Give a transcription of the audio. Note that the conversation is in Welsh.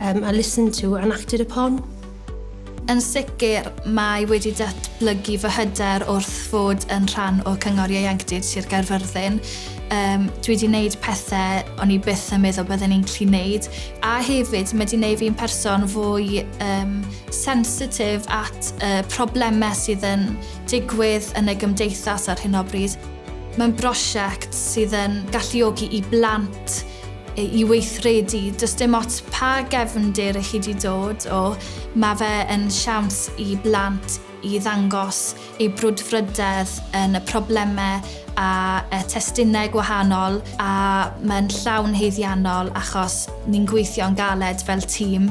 um, and listened to and acted upon. Yn sicr, mae wedi datblygu fy hyder wrth fod yn rhan o Cyngor Ieuenctid Sir Gaerfyrddin. Um, dwi wedi gwneud pethau o'n i byth yn meddwl byddwn i'n gallu gwneud. A hefyd, mae wedi gwneud fi'n person fwy um, sensitif at uh, problemau sydd yn digwydd yn y gymdeithas ar hyn o bryd. Mae'n brosiect sydd yn galluogi i blant i weithredu, does dim ots pa gefndir i chi 'di dod o, mae fe yn siawns i blant i ddangos eu brwdfrydedd yn y problemau a y testunau gwahanol a mae'n llawn haeddiannol achos ni'n gweithio'n galed fel tîm.